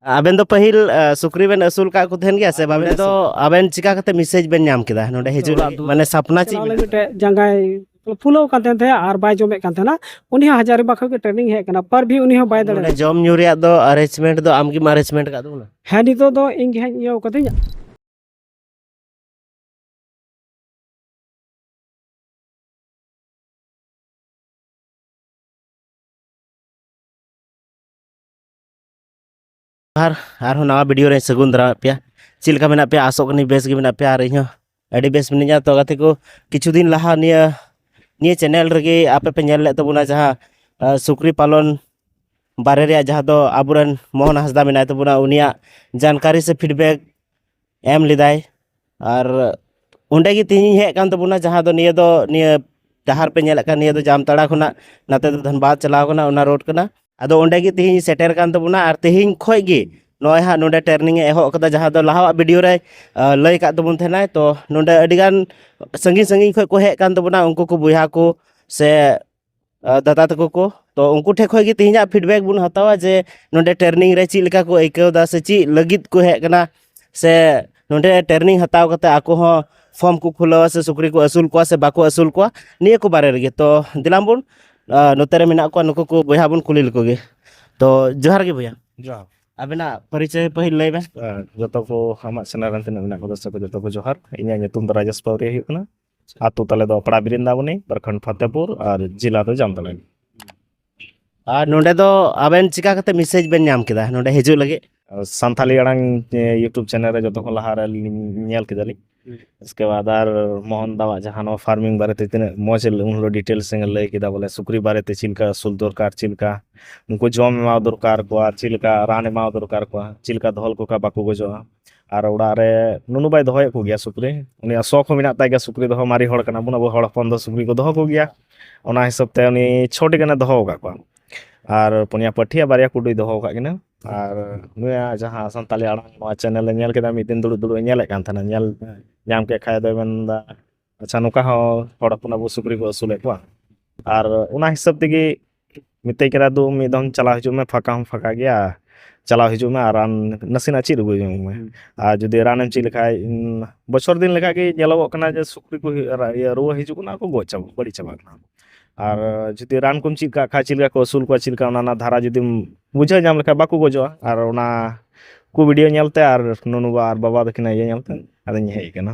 ᱟᱵᱮᱱ ᱫᱚ ᱯᱟᱹᱦᱤᱞ ᱥᱩᱠᱨᱤ ᱵᱮᱱ ᱟᱹᱥᱩᱞ ᱠᱟᱜ ᱠᱚ ᱛᱟᱦᱮᱱ ᱜᱮᱭᱟ ᱥᱮ ᱵᱟᱵᱮᱱ ᱫᱚ ᱟᱵᱮᱱ ᱪᱤᱠᱟ ᱠᱟᱛᱮ ᱢᱮᱥᱮᱡ ᱵᱮᱱ ᱧᱟᱢ ᱠᱮᱫᱟ ᱱᱚᱰᱮ ᱦᱤᱡᱩᱜ ᱞᱟᱹᱜᱤᱫ ᱢᱟᱱᱮ ᱥᱟᱯᱱᱟ ᱪᱮᱫ ᱢᱮᱱᱟᱜᱼᱟ ᱢᱤᱫᱴᱮᱡ ᱡᱟᱸᱜᱟᱭ ᱯᱷᱩᱞᱟᱹᱣ ᱠᱟᱱ ᱛᱟᱦᱮᱸ ᱛᱟᱦᱮᱸ ᱟᱨ ᱵᱟᱭ ᱡᱚᱢᱮᱫ ᱠᱟᱱ ᱛᱟᱦᱮᱱᱟ ᱩᱱᱤ ᱦᱚᱸ ᱦᱟᱡᱟᱨᱤᱵᱟ ᱠᱷᱚᱱ ᱜᱮ ᱴᱨᱮᱱᱤᱝ ᱦᱮᱡ ᱠᱟᱱᱟ ᱯᱟᱨ ᱵᱷᱤ ᱩᱱᱤ ᱦᱚᱸ ᱵᱟᱭ ᱫᱟᱲᱮᱭᱟᱜᱼᱟ ᱡᱚᱢ ᱧᱩ ᱨᱮᱭᱟᱜ ᱫᱚ ᱟᱨᱮᱧᱡᱽᱢᱮᱱᱴ ᱫᱚ ᱟᱢ ᱜᱮᱢ ᱟᱨᱮᱧᱡᱽᱢᱮᱱᱴ ᱠᱟᱫ ᱛᱟᱵᱚᱱᱟ ᱦᱮᱸ ᱱᱤᱛᱚᱜ ᱫᱚ ᱤᱧ ᱜᱮ ᱦᱟᱸᱜ ᱤᱭᱟᱹ ᱠᱟᱹᱫᱟᱹᱧ ᱟᱨ ᱟᱨᱦᱚᱸ ᱱᱟᱣᱟ ᱵᱷᱤᱰᱤᱭᱳ ᱨᱮ ᱥᱟᱹᱜᱩᱱ ᱫᱟᱨᱟᱢᱮᱫ ᱯᱮᱭᱟ ᱪᱮᱫ ᱞᱮᱠᱟ ᱢᱮᱱᱟᱜ ᱯᱮᱭᱟ ᱟᱥᱚᱜ ᱠᱟᱹᱱᱟᱹᱧ ᱵᱮᱥ ᱜᱮ ᱢᱮᱱᱟᱜ ᱯᱮᱭᱟ ᱟᱨ ᱤᱧᱦᱚᱸ ᱟᱹᱰᱤ ᱵᱮᱥ ᱢᱤᱱᱟᱹᱧᱟ ᱛᱚ ᱜᱟᱛᱮ ᱠᱚ ᱠᱤᱪᱷᱩ ᱫᱤᱱ ᱞᱟᱦᱟ ᱱᱤᱭᱟᱹ ᱱᱤᱭᱟᱹ ᱪᱮᱱᱮᱞ ᱨᱮᱜᱮ ᱟᱯᱮ ᱯᱮ ᱧᱮᱞ ᱞᱮᱫ ᱛᱟᱵᱚᱱᱟ ᱡᱟᱦᱟᱸ ᱥᱩᱠᱨᱤ ᱯᱟᱞᱚᱱ ᱵᱟᱨᱮ ᱨᱮᱭᱟᱜ ᱡᱟᱦᱟᱸ ᱫᱚ ᱟᱵᱚᱨᱮᱱ ᱢᱳᱦᱚᱱ ᱦᱟᱸᱥᱫᱟ ᱢᱮᱱᱟᱭ ᱛᱟᱵᱚᱱᱟ ᱩᱱᱤᱭᱟᱜ ᱡᱟᱱᱠᱟᱨᱤ ᱥᱮ ᱯᱷᱤᱰᱵᱮᱠ ᱮᱢ ᱞᱮᱫᱟᱭ ᱟᱨ ᱚᱸᱰᱮ ᱜᱮ ᱛᱮᱦᱮᱧᱤᱧ ᱦᱮᱡ ᱟᱠᱟᱱ ᱛᱟᱵᱚᱱᱟ ᱡᱟᱦᱟᱸ ᱫᱚ ᱱᱤᱭᱟᱹ ᱫᱚ ᱱᱤᱭᱟᱹ ᱰᱟᱦᱟᱨ ᱯᱮ ᱧᱮᱞᱮᱫ ᱠᱟᱱ ᱱᱤᱭᱟᱹ ᱫᱚ ᱡᱟᱢᱛᱟᱲᱟ ᱠᱷᱚᱱᱟᱜ ᱱᱟᱛᱮ ᱫᱚ ᱫᱷᱟᱱᱵᱟᱫᱽ ᱪᱟᱞᱟᱣ ᱠᱟᱱᱟ ᱚᱱᱟ ᱨᱳᱰ ᱠᱟᱱᱟ ᱟᱫᱚ ᱚᱸᱰᱮ ᱜᱮ ᱛᱮᱦᱮᱧ ᱥᱮᱴᱮᱨ ᱠᱟᱱ ᱛᱟᱵᱚᱱᱟ ᱟᱨ ᱛᱮᱦᱮᱧ ᱠᱷᱚᱡ ᱜᱮ ᱱᱚᱜᱼᱚᱭ ᱦᱟᱸᱜ ᱱᱚᱸᱰᱮ ᱴᱨᱮᱱᱤᱝ ᱮ ᱮᱦᱚᱵ ᱠᱟᱫᱟ ᱡᱟᱦᱟᱸ ᱫᱚ ᱞᱟᱦᱟᱣᱟᱜ ᱵᱷᱤᱰᱤᱭᱳ ᱨᱮ ᱞᱟᱹᱭ ᱠᱟᱜ ᱛᱟᱵᱚᱱ ᱛᱟᱦᱮᱱᱟᱭ ᱛᱚ ᱱᱚᱸᱰᱮ ᱟᱹᱰᱤᱜᱟᱱ ᱥᱟᱺᱜᱤᱧ ᱥᱟᱺᱜᱤᱧ ᱠᱷᱚᱡ ᱠᱚ ᱦᱮᱡ ᱠᱟᱱ ᱛᱟᱵᱚᱱᱟ ᱩᱱᱠᱩ ᱠᱚ ᱵᱚᱭᱦᱟ ᱠᱚ ᱥᱮ ᱫᱟᱫᱟ ᱛᱟᱠᱚ ᱠᱚ ᱛᱚ ᱩᱱᱠᱩ ᱴᱷᱮᱡ ᱠᱷᱚᱡ ᱜᱮ ᱛᱮᱦᱮᱧᱟᱜ ᱯᱷᱤᱰᱵᱮᱠ ᱵᱚᱱ ᱦᱟᱛᱟᱣᱟ ᱡᱮ ᱱᱚᱰᱮ ᱴᱨᱮᱱᱤᱝ ᱨᱮ ᱪᱮᱫ ᱞᱮᱠᱟ ᱠᱚ ᱟᱹᱭᱠᱟᱹᱣ ᱫᱟ ᱥᱮ ᱪᱮᱫ ᱞᱟᱹᱜᱤᱫ ᱠᱚ ᱦᱮᱡ ᱠᱟᱱᱟ ᱥᱮ ᱱᱚᱰᱮ ᱴᱨᱮᱱᱤᱝ ᱦᱟᱛᱟᱣ ᱠᱟᱛᱮ ᱟᱠᱚ ᱦᱚᱸ ᱯᱷᱚᱨᱢ ᱠᱚ ᱠᱷᱩᱞᱟᱹᱣᱟ ᱥᱮ ᱥᱩᱠᱨᱤ ᱠᱚ ᱟᱹᱥᱩᱞ ᱠᱚᱣᱟ ᱥᱮ ᱵᱟᱠᱚ ᱟᱹᱥᱩᱞ ᱠᱚᱣᱟ ᱱᱤᱭᱟᱹ ᱠᱚ ᱵᱟᱨᱮ ᱨᱮᱜᱮ ᱛᱚ ᱫᱮᱞᱟ ᱵᱚᱱ ᱱᱚᱛᱮ ᱨᱮ ᱢᱮᱱᱟᱜ ᱠᱚᱣᱟ ᱱᱩᱠᱩ ᱠᱚ ᱵᱚᱭᱦᱟ ᱵᱚᱱ ᱠᱩᱞᱤ ᱞᱮᱠᱚ ᱜᱮ ᱛᱚ ᱡᱚᱦᱟᱨ ᱜᱮ ᱵᱚᱭᱦᱟ ᱡᱚᱦᱟᱨ ᱟᱵᱮᱱᱟᱜ ᱯᱚᱨᱤᱪᱚᱭ ᱯᱟᱹᱦᱤᱞ ᱞᱟᱹᱭ ᱵᱮᱱ ᱡᱚᱛᱚ ᱠᱚ ᱟᱢᱟᱜ ᱪᱮᱱᱮᱞ ᱨᱮᱱ ᱛᱤᱱᱟᱹᱜ ᱢᱮᱱᱟᱜ ᱠᱚ ᱫᱚᱨᱥᱚᱠ ᱠᱚ ᱡᱚᱛᱚ ᱠᱚ ᱡᱚᱦᱟᱨ ᱤᱧᱟᱹᱜ ᱧᱩᱛᱩᱢ ᱫᱚ ᱨᱟᱡᱮᱥ ᱯᱟᱣᱨᱤᱭᱟ ᱦᱩᱭᱩᱜ ᱠᱟᱱᱟ ᱟᱛᱳ ᱛᱟᱞᱮ ᱫᱚ ᱯᱟᱲᱟ ᱵᱤᱨᱤᱱᱫᱟᱵᱚᱱᱤ ᱯᱨᱚᱠᱷᱚᱸᱰ ᱯᱷᱟᱛᱮᱯᱩᱨ ᱟᱨ ᱡᱮᱞᱟ ᱫᱚ ᱡᱟᱢᱛᱟᱲᱟ ᱟᱨ ᱱᱚᱰᱮ ᱫᱚ ᱟᱵᱮᱱ ᱪᱤᱠᱟ ᱠᱟᱛᱮ ᱢᱮᱥᱮᱡᱽ ᱵᱮᱱ ᱧᱟᱢ ᱠᱮᱫᱟ ᱱᱚᱰᱮ ᱦᱤᱡᱩᱜ ᱞᱟᱹᱜᱤᱫ ᱥᱟᱱᱛᱟᱞᱤ ᱟᱲᱟᱝ ᱤᱭᱩᱴᱩᱵᱽ ᱪᱮᱱᱮᱞ ᱨᱮ ᱡᱚᱛᱚ ᱠᱷᱚᱱ ᱞᱟᱦᱟ ᱨᱮ ᱧᱮᱞ ᱠᱮᱫᱟᱞᱤᱧ ᱤᱥᱠᱮ ᱵᱟᱫ ᱟᱨ ᱢᱳᱦᱚᱱ ᱫᱟᱣᱟᱜ ᱡᱟᱦᱟᱸ ᱱᱚᱣᱟ ᱯᱷᱟᱨᱢᱤᱝ ᱵᱟᱨᱮᱛᱮ ᱛᱤᱱᱟᱹᱜ ᱢᱚᱡᱽ ᱩᱱ ᱦᱤᱞᱳᱜ ᱰᱤᱴᱮᱞᱥ ᱮ ᱞᱟᱹᱭ ᱠᱮᱫᱟ ᱵᱚᱞᱮ ᱥᱩᱠᱨᱤ ᱵᱟᱨᱮᱛᱮ ᱪᱮᱫ ᱞᱮᱠᱟ ᱟᱹᱥᱩᱞ ᱫᱚᱨᱠᱟᱨ ᱪᱮᱫ ᱞᱮᱠᱟ ᱩᱱᱠᱩ ᱡᱚᱢ ᱮᱢᱟ ᱫᱚᱨᱠᱟᱨ ᱠᱚᱣᱟ ᱪᱮᱫ ᱞᱮᱠᱟ ᱨᱟᱱ ᱮᱢᱟ ᱫᱚᱨᱠᱟᱨ ᱠᱚᱣᱟ ᱪᱮᱫ ᱞᱮᱠᱟ ᱫᱚᱦᱚ ᱞᱮᱠᱚ ᱠᱷᱟᱱ ᱵᱟᱠᱚ ᱜᱚᱡᱚᱜᱼᱟ ᱟᱨ ᱚᱲᱟᱜ ᱨᱮ ᱱᱩᱱᱩ ᱵᱟᱭ ᱫᱚᱦᱚᱭᱮᱫ ᱠᱚᱜᱮᱭᱟ ᱥᱩᱠᱨᱤ ᱩᱱᱤᱭᱟᱜ ᱥᱚᱠ ᱦᱚᱸ ᱢᱮᱱᱟᱜ ᱛᱟᱭ ᱜᱮᱭᱟ ᱥᱩᱠᱨᱤ ᱫᱚᱦᱚ ᱢᱟᱨᱮ ᱦᱚᱲ ᱠᱟᱱᱟ ᱵᱚᱱ ᱟᱵᱚ ᱦᱚᱲ ᱦᱚᱯᱚᱱ ᱫᱚ ᱥᱩᱠᱨᱤ ᱠᱚ ᱫᱚᱦᱚ ᱠᱚᱜᱮᱭᱟ ᱚᱱᱟ ᱦᱤᱥᱟᱹᱵ ᱛᱮ ᱩᱱᱤ ᱪᱷᱚᱴᱤ ᱜᱟᱱᱮ ᱫᱚᱦᱚ ᱠᱟᱜ ᱠᱚᱣᱟ ᱟᱨ ᱯᱩᱱᱭᱟ ᱯᱟᱹᱴᱷᱤ ᱟᱨ ᱵᱟᱨᱭᱟ ᱠᱩᱰᱩᱭ ᱫᱚᱦᱚ ᱠᱟᱜ ᱠᱤᱱᱟᱹ ᱟᱨ ᱱᱩᱭᱟᱜ ᱡᱟᱦᱟᱸ ᱥᱟᱱᱛᱟᱲᱤ ᱟᱲᱟᱝ ᱱᱚᱣᱟ ᱪᱮᱱᱮᱞᱮ ᱧᱮᱞ ᱠᱮᱫᱟ ᱢᱤᱫ ᱫᱤᱱ ᱫᱩᱲᱩᱵ ᱫᱩᱲᱩᱵ ᱮ ᱧᱮᱞᱮᱫ ᱠᱟᱱ ᱛᱟᱦᱮᱱᱟ ᱧᱮᱞ ᱧᱟᱢ ᱠᱮᱫ ᱠᱷᱟᱱ ᱫᱚᱭ ᱢᱮᱱᱫᱟ ᱟᱪᱪᱷᱟ ᱱᱚᱝᱠᱟ ᱦᱚᱸ ᱦᱚᱲ ᱦᱚᱯᱚᱱ ᱟᱵᱚ ᱥᱩᱠᱨᱤ ᱠᱚ ᱟᱹᱥᱩᱞᱮᱫ ᱠᱚᱣᱟ ᱟᱨ ᱚᱱᱟ ᱦᱤᱥᱟᱹᱵ ᱛᱮᱜᱮ ᱢᱮᱛᱟᱭ ᱠᱟᱱᱟ ᱫᱩ ᱢᱤᱫ ᱫᱚᱢ ᱪᱟᱞᱟᱣ ᱦᱤᱡᱩᱜ ᱢᱮ ᱯᱷᱟᱸᱠᱟ ᱦᱚᱸ ᱯᱷᱟᱸᱠᱟ ᱜᱮᱭᱟ ᱪᱟᱞᱟᱣ ᱦᱤᱡᱩᱜ ᱢᱮ ᱟᱨ ᱨᱟᱱ ᱱᱟᱥᱮᱱᱟᱜ ᱪᱮᱫ ᱟᱹᱜᱩ ᱡᱚᱝ ᱢᱮ ᱟᱨ ᱡᱩᱫᱤ ᱨᱟᱱᱮᱢ ᱪᱮᱫ ᱞᱮᱠᱷᱟᱡ ᱵᱚᱪᱷᱚᱨ ᱫᱤᱱ ᱞᱮᱠᱟ ᱜᱮ ᱧᱮᱞᱚᱜᱚᱜ ᱠᱟᱱᱟ ᱡᱮ ᱥᱩᱠᱨᱤ ᱠᱚ ᱨᱩᱣᱟᱹ ᱦᱤᱡᱩᱜ ᱠᱟᱱᱟ ᱟᱨ ᱠᱚ ᱜᱚᱡ ᱪᱟᱵᱟᱜ ᱵᱟᱹᱲᱤᱡ ᱪᱟᱵᱟᱜ ᱠᱟᱱᱟ ᱟᱨ ᱡᱩᱫᱤ ᱨᱟᱱ ᱠᱚᱢ ᱪᱮᱫ ᱠᱟᱜ ᱠᱷᱟᱡ ᱪᱮᱫ ᱞᱮᱠᱟ ᱠᱚ ᱟᱹᱥᱩᱞ ᱠᱚᱣᱟ ᱪᱮᱫ ᱞᱮᱠᱟ ᱚᱱᱟ ᱨᱮᱱᱟᱜ ᱫᱷᱟᱨᱟ ᱡᱩᱫᱤᱢ ᱵᱩᱡᱷᱟᱹᱣ ᱧᱟᱢ ᱞᱮᱠᱷᱟᱡ ᱵᱟᱠᱚ ᱜᱚᱡᱚᱜᱼᱟ ᱟᱨ ᱚᱱᱟ ᱠᱚ ᱵᱷᱤᱰᱭᱳ ᱧᱮᱞᱛᱮ ᱟᱨ ᱱᱩᱱᱩ ᱵᱟ ᱟᱨ ᱵᱟᱵᱟ ᱛᱟᱹᱠᱤᱱᱟᱜ ᱤᱭᱟᱹ ᱧᱮᱞᱛᱮ ᱟᱫᱚᱧ ᱦᱮᱡ ᱠᱟᱱᱟ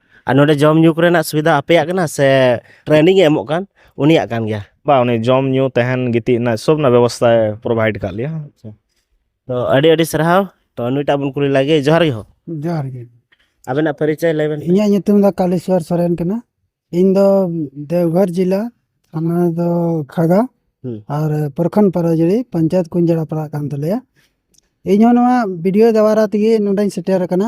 ᱟᱨ ᱱᱚᱰᱮ ᱡᱚᱢ ᱧᱩ ᱠᱚᱨᱮᱱᱟᱜ ᱥᱩᱵᱤᱫᱷᱟ ᱟᱯᱮᱭᱟᱜ ᱠᱟᱱᱟ ᱥᱮ ᱴᱨᱮᱱᱤᱝ ᱮ ᱮᱢᱚᱜ ᱠᱟᱱ ᱩᱱᱤᱭᱟᱜ ᱠᱟᱱ ᱜᱮᱭᱟ ᱵᱟ ᱩᱱᱤ ᱡᱚᱢ ᱧᱩ ᱛᱟᱦᱮᱱ ᱜᱤᱛᱤᱡ ᱨᱮᱱᱟᱜ ᱥᱚᱵ ᱨᱮᱱᱟᱜ ᱵᱮᱵᱚᱥᱛᱷᱟᱭ ᱯᱨᱳᱵᱷᱟᱭᱤᱰ ᱠᱟᱜ ᱞᱮᱭᱟ ᱛᱚ ᱟᱹᱰᱤ ᱟᱹᱰᱤ ᱥᱟᱨᱦᱟᱣ ᱛᱚ ᱱᱩᱭᱴᱟᱜ ᱵᱚᱱ ᱠᱩᱞᱤ ᱞᱟᱜᱮ ᱡᱚᱦᱟᱨ ᱜᱮ ᱦᱚᱸ ᱡᱚᱦᱟᱨ ᱜᱮ ᱟᱵᱮᱱᱟᱜ ᱯᱚᱨᱤᱪᱚᱭ ᱞᱟᱹᱭ ᱵᱮᱱ ᱤᱧᱟᱹᱜ ᱧᱩᱛᱩᱢ ᱫᱚ ᱠᱟᱞᱮᱥᱣᱚᱨ ᱥᱚᱨᱮᱱ ᱠᱟᱱᱟ ᱤᱧ ᱫᱚ ᱫᱮᱣᱜᱷᱚᱨ ᱡᱮᱞᱟ ᱛᱷᱟᱱᱟ ᱫᱚ ᱠᱷᱟᱲᱜᱟ ᱦᱩᱸ᱾ ᱟᱨ ᱯᱨᱚᱠᱷᱚᱸᱰ ᱯᱟᱨᱟᱡᱩᱲᱤ ᱯᱚᱧᱪᱟᱭᱮᱛ ᱠᱩᱧᱡᱟᱲᱟ ᱯᱟᱲᱟᱜ ᱠᱟᱱ ᱛᱟᱞᱮᱭᱟ ᱤᱧᱦᱚᱸ ᱱᱚᱣᱟ ᱵᱷᱤᱰᱤᱭᱳ ᱫᱟᱣᱟᱨᱟ ᱛᱮᱜᱮ ᱱᱚᱰᱮᱧ ᱥᱮᱴᱮᱨ ᱟᱠᱟᱱᱟ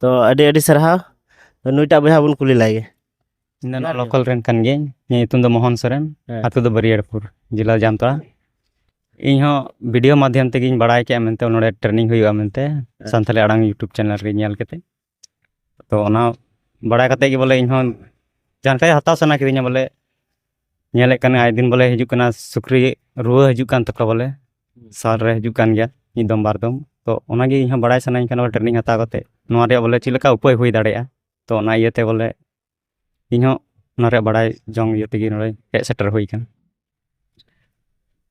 ᱛᱚ ᱟᱹᱰᱤ ᱟᱹᱰᱤ ᱥᱟᱨᱦᱟᱣ ᱛᱚ ᱱᱩᱭᱴᱟᱜ ᱵᱚᱭᱦᱟ ᱵᱚᱱ ᱠᱩᱞᱤ ᱞᱟᱭ ᱜᱮ ᱤᱧ ᱫᱚ ᱱᱚᱣᱟ ᱞᱳᱠᱟᱞ ᱨᱮᱱ ᱠᱟᱱ ᱜᱤᱭᱟᱹᱧ ᱤᱧᱟᱹᱜ ᱧᱩᱛᱩᱢ ᱫᱚ ᱢᱳᱦᱚᱱ ᱥᱚᱨᱮᱱ ᱦᱮᱸ᱾ ᱟᱛᱳ ᱫᱚ ᱵᱟᱹᱨᱤᱭᱟᱲᱯᱩᱨ ᱡᱮᱞᱟ ᱡᱟᱢᱛᱟᱲᱟ ᱤᱧ ᱦᱚᱸ ᱵᱷᱤᱰᱤᱭᱳ ᱢᱟᱫᱽᱫᱷᱚᱢ ᱛᱮᱜᱮᱧ ᱵᱟᱲᱟᱭ ᱠᱮᱜᱼᱟ ᱢᱮᱱᱛᱮ ᱱᱚᱰᱮ ᱴᱨᱮᱱᱤᱝ ᱦᱩᱭᱩᱜᱼᱟ ᱢᱮᱱᱛᱮ ᱥᱟᱱᱛᱟᱞᱤ ᱟᱲᱟᱝ ᱤᱭᱩᱴᱩᱵᱽ ᱪᱮᱱᱮᱞ ᱨᱮ ᱧᱮᱞ ᱠᱟᱛᱮ ᱛᱚ ᱚᱱᱟ ᱵᱟᱲᱟᱭ ᱠᱟᱛᱮ ᱜᱮ ᱵᱚᱞᱮ ᱤᱧ ᱦᱚᱸ ᱡᱟᱱᱠᱟᱨᱤ ᱦᱟᱛᱟᱣ ᱥᱟᱱᱟ ᱠᱤᱫᱤᱧᱟ ᱵᱚᱞᱮ ᱧᱮᱞᱮᱫ ᱠᱟᱱᱟ ᱟᱭ ᱫᱤᱱ ᱵᱚᱞᱮ ᱦᱤᱡᱩᱜ ᱠᱟᱱᱟ ᱥᱩᱠᱨᱤ ᱨᱩᱣᱟᱹ ᱦᱤᱡᱩᱜ ᱠᱟᱱ ᱛᱟᱠᱚᱣᱟ ᱵᱚᱞᱮ ᱥᱟᱞ ᱨᱮ ᱦᱤᱡᱩᱜ ᱠᱟᱱ ᱜᱮᱭᱟ ᱢᱤᱫ ᱫᱚᱢ ᱵᱟᱨ ᱫᱚᱢ ᱛᱚ ᱚᱱᱟᱜᱮ ᱤᱧᱦᱚᱸ ᱵᱟᱲᱟᱭ ᱥᱟᱱᱟᱧ ᱠᱟᱱᱟ ᱵᱚᱞᱮ ᱴᱨᱮᱱᱤᱝ ᱦᱟᱛᱟᱣ ᱠᱟᱛᱮ ᱱᱚᱣᱟ ᱨᱮᱭᱟᱜ ᱵᱚᱞᱮ ᱪᱮᱫ ᱞᱮᱠᱟ ᱩᱯᱟᱹᱭ ᱦᱩᱭ ᱫᱟᱲᱮᱭᱟᱜᱼᱟ ᱛᱚ ᱚᱱᱟ ᱤᱭᱟᱹᱛᱮ ᱵᱚᱞᱮ ᱤᱧᱦᱚᱸ ᱚᱱᱟ ᱨᱮᱭᱟᱜ ᱵᱟᱲᱟᱭ ᱡᱚᱝ ᱤᱭᱟᱹ ᱛᱮᱜᱮ ᱱᱚᱰᱮ ᱦᱮᱡ ᱥᱮᱴᱮᱨ ᱦᱩᱭ ᱠᱟᱱᱟ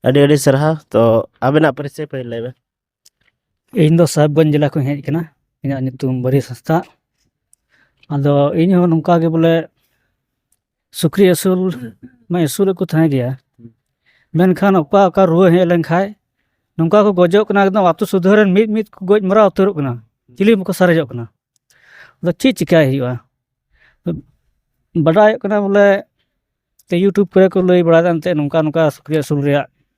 ᱟᱹᱰᱤ ᱟᱹᱰᱤ ᱥᱟᱨᱦᱟᱣ ᱛᱚ ᱟᱵᱮᱱᱟᱜ ᱯᱚᱨᱤᱪᱚᱭ ᱯᱟᱹᱦᱤᱞ ᱞᱟᱹᱭ ᱵᱮᱱ ᱤᱧ ᱫᱚ ᱥᱟᱦᱮᱵᱽᱜᱚᱸᱡᱽ ᱡᱮᱞᱟ ᱠᱷᱚᱱᱤᱧ ᱦᱮᱡ ᱠᱟᱱᱟ ᱤᱧᱟᱹᱜ ᱧᱩᱛᱩᱢ ᱵᱟᱹᱨᱭᱟᱹᱛ ᱦᱟᱸᱥᱫᱟ ᱟᱫᱚ ᱤᱧ ᱦᱚᱸ ᱱᱚᱝᱠᱟ ᱜᱮ ᱵᱚᱞᱮ ᱥᱩᱠᱨᱤ ᱟᱹᱥᱩᱞ ᱢᱟ ᱟᱹᱥᱩᱞᱮᱫ ᱠᱚ ᱛᱟᱦᱮᱸ ᱜᱮᱭᱟ ᱢᱮᱱᱠᱷᱟᱱ ᱚᱠᱟ ᱚᱠᱟ ᱨᱩᱣᱟᱹ ᱦᱮᱡ ᱞᱮᱱᱠᱷᱟᱡ ᱱᱚᱝᱠᱟ ᱠᱚ ᱜᱚᱡᱚᱜ ᱠᱟᱱᱟ ᱮᱠᱫᱚᱢ ᱟᱛᱳ ᱥᱩᱫᱷᱟᱹ ᱨᱮᱱ ᱢᱤᱫ ᱢᱤᱫ ᱠᱚ ᱜᱚᱡ ᱢᱟᱨᱟᱣ ᱩᱛᱟᱹᱨᱚᱜ ᱠᱟᱱᱟ ᱪᱤᱞᱤ ᱦᱚᱸ ᱵᱟᱠᱚ ᱥᱟᱨᱮᱡᱚᱜ ᱠᱟᱱᱟ ᱟᱫᱚ ᱪᱮᱫ ᱪᱤᱠᱟᱹᱭ ᱦᱩᱭᱩᱜᱼᱟ ᱵᱟᱰᱟᱭᱚᱜ ᱠᱟᱱᱟ ᱵᱚᱞᱮ ᱤᱭᱩᱴᱩᱵᱽ ᱠᱚᱨᱮ ᱠᱚ ᱞᱟᱹᱭ ᱵᱟᱲᱟᱭᱮᱫᱟ ᱮᱱᱛᱮᱫ ᱱᱚᱝᱠᱟ ᱱᱚᱝᱠᱟ ᱥᱩᱠᱨᱤ ᱟᱹᱥᱩᱞ ᱨᱮᱭᱟᱜ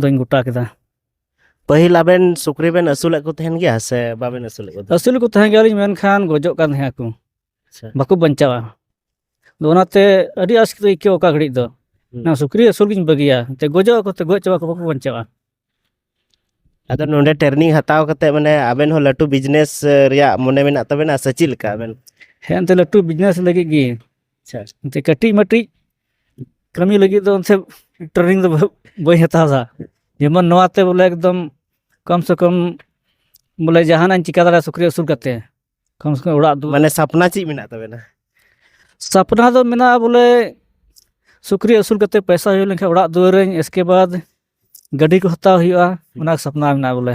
ᱫᱚᱧ ᱜᱚᱴᱟ ᱠᱮᱫᱟ ᱯᱟᱹᱦᱤᱞ ᱟᱵᱮᱱ ᱥᱩᱠᱨᱤ ᱵᱮᱱ ᱟᱹᱥᱩᱞᱮᱫ ᱠᱚ ᱛᱟᱦᱮᱱ ᱜᱮᱭᱟ ᱥᱮ ᱵᱟᱵᱮᱱ ᱟᱹᱥᱩᱞᱮᱫ ᱠᱚ ᱛᱟᱦᱮᱱ ᱟᱹᱥᱩᱞ ᱠᱚ ᱛᱟᱦᱮᱸ ᱜᱮᱭᱟᱞᱤᱧ ᱢᱮᱱᱠᱷᱟᱱ ᱜᱚᱡᱚᱜ ᱠᱟᱱ ᱛᱟᱦᱮᱸ ᱟᱠᱚ ᱟᱪᱪᱷᱟ ᱵᱟᱠᱚ ᱵᱟᱧᱪᱟᱣᱟ ᱟᱫᱚ ᱚᱱᱟᱛᱮ ᱟᱹᱰᱤ ᱟᱥᱠᱮᱛ ᱟᱹᱭᱠᱟᱹᱣ ᱚᱠᱟ ᱜᱷᱟᱹᱲᱤᱡ ᱫᱚ ᱦᱩᱸ᱾ ᱱᱚᱣᱟ ᱥᱩᱠᱨᱤ ᱟᱹᱥᱩᱞ ᱜᱤᱧ ᱵᱟᱹᱜᱤᱭᱟ ᱛᱮ ᱜᱚᱡᱚᱜ ᱟᱠᱚ ᱛᱮ ᱜᱚᱡ ᱪᱟᱵᱟ ᱠᱚ ᱵᱟᱠᱚ ᱵᱟᱧᱪᱟᱣᱟ ᱟᱫᱚ ᱱᱚᱰᱮ ᱴᱨᱮᱱᱤᱝ ᱦᱟᱛᱟᱣ ᱠᱟᱛᱮ ᱢᱟᱱᱮ ᱟᱵᱮᱱ ᱦᱚᱸ ᱞᱟᱹᱴᱩ ᱵᱤᱡᱽᱱᱮᱥ ᱨᱮᱭᱟᱜ ᱢᱚᱱᱮ ᱢᱮᱱᱟᱜ ᱛᱟᱵᱮᱱᱟ ᱥᱮ ᱪᱮᱫ ᱞᱮᱠᱟ ᱟᱵᱮᱱ ᱦᱮᱸ ᱮᱱᱛᱮ ᱞᱟᱹᱴᱩ ᱵᱤᱡᱽᱱᱮᱥ ᱞᱟᱹᱜᱤᱫ ᱜᱮ ᱟᱪᱪᱷᱟ ᱮᱱᱛᱮ ᱠᱟᱹᱴᱤᱡ ᱢᱟᱹᱴᱤᱡ ᱠᱟᱹᱢᱤ ᱞᱟᱹᱜᱤᱫ ᱫᱚ ᱮᱱᱛᱮ ᱴᱨᱮᱱᱤᱝ ᱫᱚ ᱵᱟᱹᱧ ᱦᱟᱛᱟᱣ ᱫᱟ ᱡᱮᱢᱚᱱ ᱱᱚᱣᱟᱛᱮ ᱵᱚᱞᱮ ᱮᱠᱫᱚᱢ ᱠᱚᱢ ᱥᱮ ᱠᱚᱢ ᱵᱚᱞᱮ ᱡᱟᱦᱟᱱᱟᱜ ᱤᱧ ᱪᱤᱠᱟᱹ ᱫᱟᱲᱮᱭᱟᱜᱼᱟ ᱥᱩᱠᱨᱤ ᱟᱹᱥᱩᱞ ᱠᱟᱛᱮ ᱠᱚᱢ ᱥᱮ ᱠᱚᱢ ᱚᱲᱟᱜ ᱫᱩᱣᱟᱹᱨ ᱢᱟᱱᱮ ᱥᱟᱯᱱᱟ ᱪᱮᱫ ᱢᱮᱱᱟᱜ ᱛᱟᱵᱮᱱᱟ ᱥᱟᱯᱱᱟ ᱫᱚ ᱢᱮᱱᱟᱜᱼᱟ ᱵᱚᱞᱮ ᱥᱩᱠᱨᱤ ᱟᱹᱥᱩᱞ ᱠᱟᱛᱮ ᱯᱚᱭᱥᱟ ᱦᱩᱭ ᱞᱮᱱᱠᱷᱟᱱ ᱚᱲᱟᱜ ᱫᱩᱣᱟᱹᱨᱟᱹᱧ ᱮᱥᱠᱮ ᱵᱟᱫᱽ ᱜᱟᱹᱰᱤ ᱠᱚ ᱦᱟᱛᱟᱣ ᱦᱩᱭᱩᱜᱼᱟ ᱚᱱᱟ ᱥᱟᱯᱱᱟ ᱢᱮᱱᱟᱜᱼᱟ ᱵᱚᱞᱮ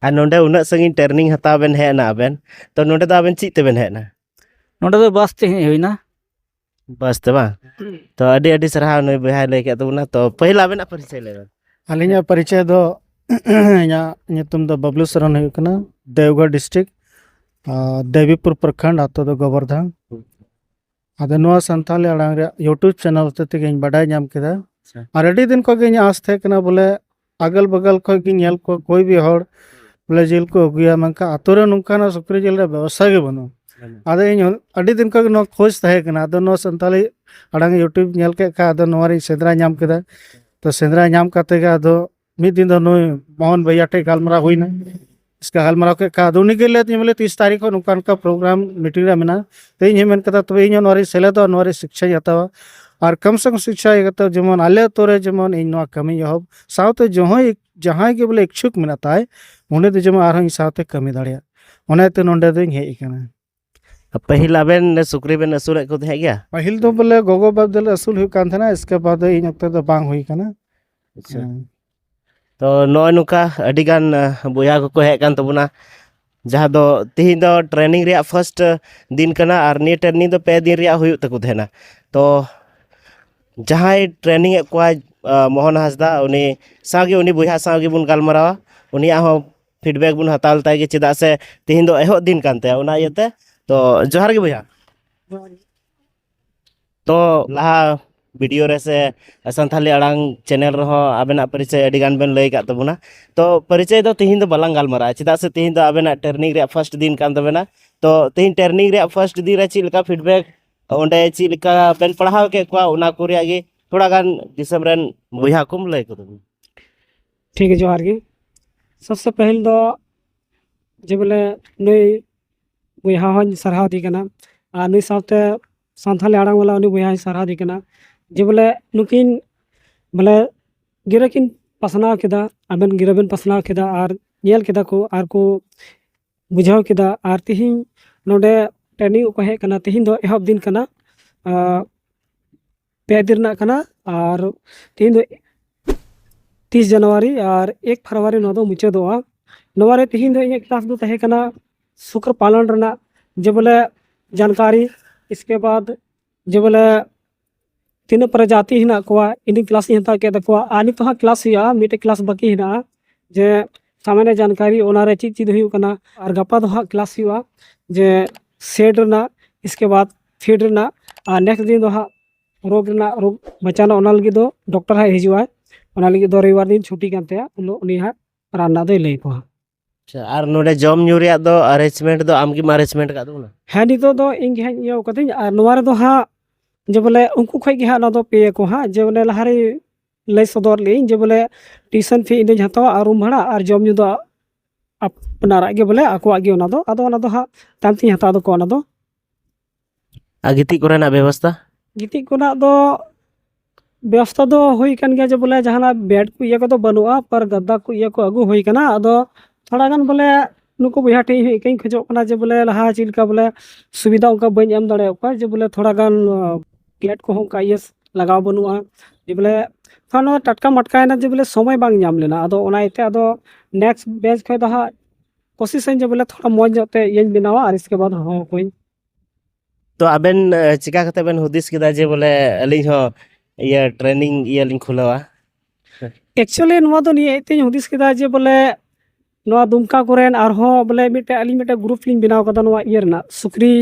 ᱟᱨ ᱱᱚᱰᱮ ᱩᱱᱟᱹᱜ ᱥᱟᱺᱜᱤᱧ ᱴᱨᱮᱱᱤᱝ ᱦᱟᱛᱟᱣ ᱵᱮᱱ ᱦᱮᱡ ᱮᱱᱟ ᱟᱵᱮᱱ ᱛᱚ ᱱᱚᱰᱮ ᱫᱚ ᱟᱵᱮᱱ ᱪᱮᱫ ᱛᱮᱵᱮᱱ ᱦᱮᱡ ᱮᱱᱟ ᱱᱚᱰᱮ ᱫᱚ ᱵᱟᱥ ᱛᱮ ᱦᱮᱡ ᱦᱩᱭᱱᱟ ᱵᱟᱥ ᱛᱮ ᱵᱟᱝ ᱛᱚ ᱟᱹᱰᱤ ᱟᱹᱰᱤ ᱥᱟᱨᱦᱟᱣ ᱱᱩᱭ ᱵᱚᱭᱦᱟᱭ ᱞᱟᱹᱭ ᱠᱮᱫ ᱛᱟᱵᱚᱱᱟ ᱛᱚ ᱯᱟᱹᱦᱤᱞ ᱟᱵᱮᱱᱟᱜ ᱯᱚᱨᱤᱪᱚᱭ ᱞᱟᱹᱭ ᱵᱮᱱ ᱟᱹᱞᱤᱧᱟᱜ ᱯᱚᱨᱤᱪᱚᱭ ᱫᱚ ᱤᱧᱟᱹᱜ ᱧᱩᱛᱩᱢ ᱫᱚ ᱵᱟᱵᱞᱩ ᱥᱚᱨᱮᱱ ᱦᱩᱭᱩᱜ ᱠᱟᱱᱟ ᱫᱮᱣᱜᱷᱚᱨ ᱰᱤᱥᱴᱨᱤᱠ ᱫᱮᱵᱤᱯᱩᱨ ᱯᱨᱚᱠᱷᱚᱸᱰ ᱟᱛᱳ ᱫᱚ ᱜᱚᱵᱚᱨᱫᱷᱟᱱ ᱟᱫᱚ ᱱᱚᱣᱟ ᱥᱟᱱᱛᱟᱞᱤ ᱟᱲᱟᱝ ᱨᱮᱭᱟᱜ ᱭᱩᱴᱩᱵᱽ ᱪᱮᱱᱮᱞ ᱦᱚᱛᱮ ᱛᱮᱜᱮᱧ ᱵᱟᱰᱟᱭ ᱧᱟᱢ ᱠᱮᱫᱟ ᱟᱪᱪᱷᱟ᱾ ᱟᱨ ᱟᱹᱰᱤ ᱫᱤᱱ ᱠᱷᱚᱱ ᱜᱮ ᱤᱧᱟᱹᱜ ᱟᱸᱥ ᱛᱟᱦᱮᱸ ᱠᱟᱱᱟ ᱵᱚᱞᱮ ᱟᱜᱚᱞ ᱵᱟᱜᱟᱞ ᱠᱷᱚᱱ ᱜᱮ ᱧᱮᱞ ᱠᱚ ᱠᱚᱭ ᱵᱤ ᱦᱚᱲ ᱵᱚᱞᱮ ᱡᱤᱞ ᱠᱚ ᱟᱹᱜᱩᱭᱟ ᱢᱮᱱᱠᱷᱟᱱ ᱟᱛᱳ ᱨᱮ ᱱᱚᱝᱠᱟᱱᱟᱜ ᱥᱩᱠᱨᱤ ᱡᱤᱞ ᱨᱮᱭᱟᱜ ᱵᱮᱵᱚᱥᱛᱷᱟ ᱜᱮ ᱵᱟᱹᱱᱩᱜᱼᱟ ᱟᱫᱚ ᱤᱧ ᱦᱚᱸ ᱟᱹᱰᱤ ᱫᱤᱱ ᱠᱷᱚᱱ ᱜᱮ ᱱᱚᱣᱟ ᱠᱷᱳᱡᱽ ᱛᱟᱦᱮᱸ ᱠᱟᱱᱟ ᱟᱫᱚ ᱱᱚᱣᱟ ᱥᱟᱱᱛᱟᱞᱤ ᱟᱲᱟᱝ ᱭᱩᱴᱩᱵᱽ ᱧᱮᱞ ᱠᱮᱫ ᱠᱷᱟᱱ ᱟᱫᱚ ᱱᱚᱣᱟ ᱨᱤᱧ ᱥᱮᱸᱫᱽᱨᱟ ᱧᱟᱢ ᱠᱮᱫᱟ ᱛᱚ ᱥᱮᱸᱫᱽᱨᱟ ᱧᱟᱢ ᱠᱟᱛᱮ ᱜᱮ ᱟᱫᱚ ᱢᱤᱫ ᱫᱤᱱ ᱫᱚ ᱱᱩᱭ ᱢᱳᱦᱚᱱ ᱵᱷᱟᱹᱭᱟ ᱴᱷᱮᱡ ᱜᱟᱞᱢᱟᱨᱟᱣ ᱦᱩᱭᱱᱟ ᱤᱥᱠᱟ ᱜᱟᱞᱢᱟᱨᱟᱣ ᱠᱮᱫ ᱠᱷᱟᱱ ᱟᱫᱚ ᱩᱱᱤᱜᱮ ᱞᱟᱹᱭ ᱟᱹᱫᱤᱧᱟ ᱵᱚᱞᱮ ᱛᱤᱥ ᱛᱟᱹᱨᱤᱠᱷ ᱦᱚᱸ ᱱᱚᱝᱠᱟ ᱱᱚᱝᱠᱟ ᱯᱨᱳᱜᱨᱟᱢ ᱢᱤᱴᱤᱝ ᱨᱮ ᱢᱮᱱᱟᱜᱼᱟ ᱛᱚ ᱤᱧ ᱦᱚᱸᱧ ᱢᱮᱱ ᱠᱮᱫᱟ ᱛᱚᱵᱮ ᱤᱧ ᱦᱚᱸ ᱱᱚᱣᱟ ᱨᱤᱧ ᱥᱮᱞᱮᱫᱚᱜᱼᱟ ᱱᱚᱣᱟ ᱨᱮ ᱥᱤᱠᱪᱷᱟᱧ ᱦᱟᱛᱟᱣᱟ ᱟᱨ ᱠᱚᱢ ᱥᱮ ᱠᱚᱢ ᱥᱤᱠᱪᱷᱟ ᱤᱭᱟᱹ ᱠᱟᱛᱮᱫ ᱡᱮᱢᱚᱱ ᱟᱞᱮ ᱟᱛᱳ ᱨᱮ ᱡᱮᱢᱚᱱ ᱤᱧ ᱱᱚᱣᱟ ᱠᱟᱹᱢᱤᱧ ᱮᱦᱚᱵ ᱥᱟᱶᱛᱮ ᱡᱚᱦᱚᱸᱭ ᱡᱟᱦᱟᱸᱭ ᱜᱮ ᱵᱚᱞᱮ ᱤᱪᱪᱷᱩᱠ ᱢᱮᱱᱟᱜ ᱛᱟᱭ ᱩᱱᱤ ᱫᱚ ᱡᱮᱢᱚᱱ ᱟᱨᱦᱚᱸ ᱤᱧ ᱥᱟᱶᱛᱮ ᱠᱟᱹᱢᱤ ᱫᱟᱲᱮᱭᱟᱜ ᱚᱱᱟᱛᱮ ᱱᱚᱰᱮ ᱫᱚᱧ ᱦᱮᱡ ᱟᱠᱟᱱᱟ ᱯᱟᱹᱦᱤᱞ ᱟᱵᱮᱱ ᱥᱩᱠᱨᱤ ᱵᱮᱱ ᱟᱹᱥᱩᱞᱮᱫ ᱠᱚ ᱛᱟᱦᱮᱸᱫ ᱜᱮᱭᱟ ᱯᱟᱹᱦᱤᱞ ᱫᱚ ᱵᱚᱞᱮ ᱜᱚᱜᱚ ᱵᱟᱵ ᱫᱚᱞᱮ ᱟᱹᱥᱩᱞ ᱦᱩᱭᱩᱜ ᱠᱟᱱ ᱛᱟᱦᱮᱱᱟ ᱤᱥᱠᱮ ᱵᱟᱫ ᱤᱧ ᱚᱠᱛᱚ ᱫᱚ ᱵᱟᱝ ᱦᱩᱭ ᱠᱟᱱᱟ ᱟᱪᱪᱷᱟ ᱦᱮᱸ᱾ ᱛᱚ ᱱᱚᱜᱼᱚᱭ ᱱᱚᱝᱠᱟ ᱟᱹᱰᱤᱜᱟᱱ ᱟᱸ, ᱵᱚᱭᱦᱟ ᱠᱚᱠᱚ ᱦᱮᱡ ᱠᱟᱱ ᱛᱟᱵᱚᱱᱟ ᱡᱟᱦᱟᱸ ᱫᱚ ᱛᱤᱦᱤᱧ ᱫᱚ ᱴᱨᱮᱱᱤᱝ ᱨᱮᱭᱟᱜ ᱯᱷᱟᱨᱥᱴ ᱫᱤᱱ ᱠᱟᱱᱟ ᱟᱨ ᱱᱤᱭᱟᱹ ᱴᱨᱮᱱᱤᱝ ᱫᱚ ᱯᱮ ᱫᱤᱱ ᱨᱮᱭᱟᱜ ᱦᱩᱭᱩᱜ ᱛᱟᱠᱚ ᱛᱟᱦᱮᱱᱟ ᱛᱚ ᱡᱟᱦᱟᱸᱭ ᱴᱨᱮᱱᱤᱝ ᱮᱫ ᱠᱚᱣᱟᱭ ᱟᱸ, ᱢᱳᱦᱚᱱ ᱦᱟᱸᱥᱫᱟ ᱩᱱᱤ ᱥᱟᱶᱜᱮ ᱩᱱᱤ ᱵᱚᱭᱦᱟ ᱥᱟᱶ ᱜᱮᱵᱚᱱ ᱜᱟᱞᱢᱟᱨᱟᱣᱟ ᱩᱱᱤᱭᱟᱜ ᱦᱚᱸ ᱯᱷᱤᱰᱵᱮᱠ ᱵᱚᱱ ᱦᱟᱛᱟᱣ ᱞᱮᱛᱟᱭ ᱜᱮ ᱪᱮᱫᱟᱜ ᱥᱮ ᱛᱮᱦᱮᱧ ᱫᱚ ᱮᱦᱚᱵ ᱫᱤᱱ ᱠᱟᱱ ᱛᱟᱭᱟ ᱚᱱᱟ ᱤᱭᱟᱹᱛᱮ ᱛᱚ ᱡᱚᱦᱟᱨ ᱜᱮ ᱵᱚᱭᱦᱟ ᱛᱚ ᱞᱟᱦᱟ ᱵᱷᱤᱰᱤᱭᱳ ᱨᱮ ᱥᱮ ᱥᱟᱱᱛᱷᱟᱞᱤ ᱟᱲᱟᱝ ᱪᱮᱱᱮᱞ ᱨᱮᱦᱚᱸ ᱟᱵᱮᱱᱟᱜ ᱯᱚᱨᱤᱪᱚᱭ ᱟᱹᱰᱤ ᱜᱟᱱ ᱵᱮᱱ ᱞᱟᱹᱭ ᱟᱠᱟᱫ ᱛᱟᱵᱚᱱᱟ ᱛᱚ ᱯᱚᱨᱤᱪᱚᱭ ᱫᱚ ᱛᱮᱦᱮᱧ ᱫᱚ ᱵᱟᱞᱟᱝ ᱜᱟᱞᱢᱟᱨᱟᱜᱼᱟ ᱪᱮᱫᱟᱜ ᱥᱮ ᱛᱮᱦᱮᱧ ᱫᱚ ᱟᱵᱮᱱᱟᱜ ᱴᱨᱮᱱᱤᱝ ᱨᱮᱭᱟᱜ ᱯᱷᱟᱥᱴ ᱫᱤᱱ ᱠᱟᱱ ᱛᱟᱵᱮᱱᱟ ᱛᱚ ᱛᱮᱦᱮᱧ ᱴᱨᱮᱱᱤᱝ ᱨᱮᱭᱟᱜ ᱯᱷᱟᱥᱴ ᱫᱤᱱ ᱨᱮ ᱪᱮᱫ ᱞᱮᱠᱟ ᱯᱷᱤᱰᱵᱮᱠ ᱚᱸᱰᱮ ᱪᱮᱫ ᱞᱮᱠᱟ ᱵᱮᱱ ᱯᱟᱲᱦᱟᱣ ᱠᱮᱫ ᱠᱚᱣᱟ ᱚᱱᱟ ᱠᱚ ᱨᱮᱭᱟᱜ ᱜᱮ ᱛᱷᱚᱲᱟ ᱜᱟᱱ ᱫᱤᱥᱚᱢ ᱨᱮᱱ ᱵᱚᱭᱦᱟ ᱠᱚᱢ ᱞᱟᱹᱭ ᱠᱚ ᱛᱟᱵᱚᱱᱟ ᱴᱷᱤᱠ ᱜᱮ ᱡᱚᱦᱟᱨ ᱜᱮ ᱥᱚᱵᱥᱮ ᱯᱟᱹᱦᱤᱞ ᱫᱚ ᱡᱮ ᱵᱚᱞᱮ ᱱᱩᱭ ᱵᱚᱭᱦᱟ ᱦᱚᱸᱧ ᱥᱟᱨᱦᱟᱣ ᱫᱮ ᱠᱟᱱᱟ ᱟᱨ ᱱᱩᱭ ᱥᱟᱶᱛᱮ ᱥᱟᱱᱛᱟᱞᱤ ᱟᱲᱟᱝ ᱵᱟᱞᱟ ᱩᱱᱤ ᱵᱚᱭᱦᱟᱧ ᱥᱟᱨᱦᱟᱣ ᱫᱮ ᱠᱟᱱᱟ ᱡᱮ ᱵᱚᱞᱮ ᱱᱩᱠᱤᱱ ᱵᱚᱞᱮ ᱜᱤᱨᱟᱹ ᱠᱤᱱ ᱯᱟᱥᱱᱟᱣ ᱠᱮᱫᱟ ᱟᱵᱮᱱ ᱜᱤᱨᱟᱹ ᱵᱮᱱ ᱯᱟᱥᱱᱟᱣ ᱠᱮᱫᱟ ᱟᱨ ᱧᱮᱞ ᱠᱮᱫᱟ ᱠᱚ ᱟᱨ ᱠᱚ ᱵᱩᱡᱷᱟᱹᱣ ᱠᱮᱫᱟ ᱟᱨ ᱛᱤᱦᱤᱧ ᱱᱚᱰᱮ ᱴᱨᱮᱱᱤᱝ ᱠᱚ ᱦᱮᱡ ᱠᱟᱱᱟ ᱛᱤᱦᱤᱧ ᱫᱚ ᱮᱦᱚᱵ ᱫᱤᱱ ᱠᱟᱱᱟ ᱯᱮ ᱫᱤᱱ ᱨᱮᱱᱟᱜ ᱠᱟᱱᱟ ᱟᱨ ᱛᱮᱦᱮᱧ ᱫᱚ ᱛᱤᱥ ᱡᱟᱱᱩᱣᱟᱨᱤ ᱟᱨ ᱮᱠ ᱯᱷᱮᱵᱽᱨᱩᱣᱟᱨᱤ ᱱᱚᱣᱟ ᱫᱚ ᱢᱩᱪᱟᱹᱫᱚᱜᱼᱟ ᱱᱚᱣᱟ ᱨᱮ ᱛᱮᱦᱮᱧ ᱫᱚ ᱤᱧᱟᱹᱜ ᱠᱞᱟᱥ ᱫᱚ ᱛᱟᱦᱮᱸ ᱠᱟᱱᱟ ᱥᱩᱠᱨ ᱯᱟᱞᱚᱱ ᱨᱮᱱᱟᱜ ᱡᱮ ᱵᱚᱞᱮ ᱡᱟᱱᱠᱟᱨᱤ ᱤᱥᱠᱮ ᱵᱟᱫ ᱡᱮ ᱵᱚᱞᱮ ᱛᱤᱱᱟᱹᱜ ᱯᱨᱚᱡᱟᱛᱤ ᱦᱮᱱᱟᱜ ᱠᱚᱣᱟ ᱤᱧ ᱠᱞᱟᱥ ᱤᱧ ᱦᱟᱛᱟᱣ ᱠᱮᱫ ᱛᱟᱠᱚᱣᱟ ᱟᱨ ᱱᱤᱛᱚᱜ ᱦᱟᱸᱜ ᱠᱞᱟᱥ ᱦᱩᱭᱩᱜᱼᱟ ᱢᱤᱫᱴᱮᱡ ᱠᱞᱟᱥ ᱵᱟᱹᱠᱤ ᱦᱮᱱᱟᱜᱼᱟ ᱡᱮ ᱥᱟᱢᱟᱱᱭᱚ ᱡᱟᱱᱠᱟᱨᱤ ᱚᱱᱟᱨᱮ ᱪᱮᱫ ᱪᱮᱫ ᱦᱩᱭᱩᱜ ᱠᱟᱱᱟ ᱟᱨ ᱜᱟᱯᱟ ᱫᱚ ᱦᱟᱸᱜ ᱠᱞᱟᱥ ᱦᱩᱭᱩᱜᱼᱟ ᱡᱮ ᱥᱮᱴ ᱨᱮᱱᱟᱜ ᱤᱥᱠᱮ ᱵᱟᱫ ᱥᱤᱰ ᱨᱮᱱᱟᱜ ᱟᱨ ᱱᱮᱠᱥᱴ ᱫᱤᱱ ᱫᱚ ᱦᱟᱸᱜ ᱨᱳᱜᱽ ᱨᱮᱱᱟᱜ ᱨᱳᱜᱽ ᱵᱟᱪᱟᱱᱟ ᱚᱱᱟ ᱞᱟᱹᱜᱤᱫ ᱫᱚ ᱰᱚᱠᱴᱚᱨ ᱦᱟᱸᱜ ᱦᱤᱡᱩᱜᱼᱟᱭ ᱚᱱᱟ ᱞᱟᱹᱜᱤᱫ ᱫᱚ ᱨᱚᱵᱤᱵᱟᱨ ᱫᱤᱱ ᱪᱷᱩᱴᱤ ᱠᱟᱱ ᱛᱟᱭᱟ ᱩᱱ ᱦᱤᱞᱳᱜ ᱩᱱᱤ ᱦᱟᱸᱜ ᱨᱟᱱ ᱨᱮᱱᱟᱜ ᱫᱚᱭ ᱞᱟᱹᱭ ᱟᱠᱚᱣᱟ ᱟᱪᱪᱷᱟ ᱟᱨ ᱱᱚᱰᱮ ᱡᱚᱢ ᱧᱩ ᱨᱮᱭᱟᱜ ᱫᱚ ᱟᱨᱮᱧᱡᱽᱢᱮᱱᱴ ᱫᱚ ᱟᱢᱜᱮᱢ ᱟᱨᱮᱧᱡᱽᱢᱮᱱᱴ ᱟᱠᱟᱫ ᱛᱟᱵᱚᱱᱟ ᱦᱮᱸ ᱱᱤᱛᱚᱜ ᱫᱚ ᱤᱧ ᱜᱮ ᱦᱟᱸᱜ ᱤᱭᱟᱹ ᱠᱟᱹᱫᱟᱹᱧ ᱟᱨ ᱱᱚᱣᱟ ᱨᱮᱫᱚ ᱦᱟᱸᱜ ᱡᱮ ᱵᱚᱞᱮ ᱩᱱᱠᱩ ᱠᱷᱚᱡ ᱜᱮ ᱦᱟᱸᱜ ᱱᱚᱣᱟ ᱫᱚ ᱯᱮ ᱟᱠᱚ ᱦᱟᱸᱜ ᱡᱮ ᱵᱚᱞᱮ ᱞᱟᱦᱟᱨᱮ ᱞᱟᱹᱭ ᱥᱚᱫᱚᱨ ᱞᱮᱜᱼᱟᱹᱧ ᱡᱮ ᱵᱚᱞᱮ ᱴᱤᱭᱩᱥᱚᱱ ᱯᱷᱤ ᱤᱧ ᱫᱚᱧ ᱦᱟᱛᱟᱣᱟ ᱟᱨ ᱨᱩᱢ ᱵᱷᱟᱲᱟ ᱟᱨ ᱡᱚᱢ ᱧᱩ ᱫᱚ ᱟᱯᱱᱟᱨᱟᱜ ᱜᱮ ᱵᱚᱞᱮ ᱟᱠᱚᱣᱟᱜ ᱜᱮ ᱚᱱᱟ ᱫᱚ ᱟᱫᱚ ᱚᱱᱟ ᱫᱚ ᱦᱟᱸᱜ ᱛᱟᱭᱚᱢ ᱛᱤᱧ ᱦᱟᱛᱟᱣ ᱛᱟᱠᱚᱣᱟ ᱚᱱᱟ ᱫᱚ ᱟᱨ ᱜᱤᱛᱤᱡ ᱠᱚᱨᱮᱱᱟᱜ ᱵᱮᱵᱚᱥᱛᱟ ᱜᱤᱛᱤᱡ ᱠᱚᱨᱮᱱᱟᱜ ᱫᱚ ᱵᱮᱵᱚᱥᱛᱟ ᱫᱚ ᱦᱩᱭ ᱠᱟᱱ ᱜᱮᱭᱟ ᱡᱮ ᱵᱚᱞᱮ ᱡᱟᱦᱟᱱᱟᱜ ᱵᱮᱰ ᱠᱚ ᱤᱭᱟᱹ ᱠᱚᱫᱚ ᱵᱟᱹᱱᱩᱜᱼᱟ ᱯᱟᱨ ᱜᱟᱫᱽᱫᱟ ᱠᱚ ᱤᱭᱟᱹ ᱠᱚ ᱟᱹᱜᱩ ᱦᱩᱭ ᱠᱟᱱᱟ ᱟᱫᱚ ᱛᱷᱚᱲᱟ ᱜᱟᱱ ᱵᱚᱞᱮ ᱱᱩᱠᱩ ᱵᱚᱭᱦᱟ ᱴᱷᱮᱡ ᱤᱧ ᱦᱮᱡ ᱠᱟᱛᱮᱧ ᱠᱷᱚᱡᱚᱜ ᱠᱟᱱᱟ ᱡᱮ ᱵᱚᱞᱮ ᱞᱟᱦᱟ ᱪᱮᱫ ᱞᱮᱠᱟ ᱵᱚᱞᱮ ᱥᱩᱵᱤᱫᱟ ᱚᱱᱠᱟ ᱵᱟᱹᱧ ᱮᱢ ᱫᱟᱲᱮᱭᱟᱜ ᱠᱚᱣᱟ ᱡᱮ ᱵᱚᱞᱮ ᱛᱷᱚᱲᱟ ᱜᱟᱱ ᱵᱮᱰ ᱠᱚᱦᱚᱸ ᱚᱱᱠᱟ ᱤᱭᱟᱹ ᱞᱟᱜᱟᱣ ᱵᱟᱹᱱᱩᱜᱼᱟ ᱡᱮ ᱵᱚᱞᱮ ᱛᱷᱚᱲᱟ ᱱᱚᱣᱟ ᱴᱟᱴᱠᱟ ᱢᱟᱴᱠᱟᱭᱮᱱᱟ ᱡᱮ ᱵᱚᱞᱮ ᱥᱚᱢᱚᱭ ᱵᱟᱝ ᱧᱟᱢ ᱞᱮᱱᱟ ᱟᱫᱚ ᱚᱱᱟ ᱤᱭᱟᱹᱛᱮ ᱟᱫᱚ ᱱᱮᱠᱥᱴ ᱵᱮᱪ ᱠᱷᱚᱡ ᱫᱚ ᱦᱟᱸᱜ ᱠᱳᱥᱤᱥ ᱟᱹᱧ ᱡᱮ ᱵᱚᱞᱮ ᱛᱷᱚᱲᱟ ᱢᱚᱡᱽ ᱧᱚᱜ ᱛᱮ ᱤᱭᱟᱹᱧ ᱵᱮᱱᱟᱣᱟ ᱟᱨ ᱤᱥᱠᱮ ᱵᱟᱫ ᱦᱚᱦᱚ ᱟᱠᱚᱣᱟᱹᱧ ᱛᱚ ᱟᱵᱮᱱ ᱮ, ᱪᱮᱠᱟ ᱠᱟᱛᱮ ᱵᱮᱱ ᱦᱩᱫᱤᱥ ᱠᱮᱫᱟ ᱡᱮ ᱵᱚᱞᱮ ᱟᱹᱞᱤᱧ ᱦᱚᱸ ᱤᱭᱟᱹ ᱴᱨᱮᱱᱤᱝ ᱤᱭᱟᱹ ᱞᱤᱧ ᱠᱷᱩᱞᱟᱹᱣᱟ ᱮᱠᱪᱩᱭᱮᱞᱤ ᱱᱚᱣᱟ ᱫᱚ ᱱᱤᱭᱟᱹ ᱤᱭᱟᱹᱛᱮᱧ ᱦᱩᱫᱤᱥ ᱠᱮᱫᱟ ᱡᱮ ᱵᱚᱞᱮ ᱱᱚᱣᱟ ᱫᱩᱢᱠᱟ ᱠᱚᱨᱮᱱ ᱟᱨᱦᱚᱸ ᱵᱚᱞᱮ ᱢᱤᱫᱴᱮᱡ ᱟᱹᱞᱤᱧ ᱢᱤᱫᱴᱮᱡ ᱜᱨᱩᱯ ᱞᱤᱧ ᱵᱮᱱᱟᱣ ᱠᱟᱫᱟ ᱱᱚᱣᱟ ᱤᱭᱟᱹ ᱨᱮᱱᱟᱜ ᱥᱩᱠᱨᱤ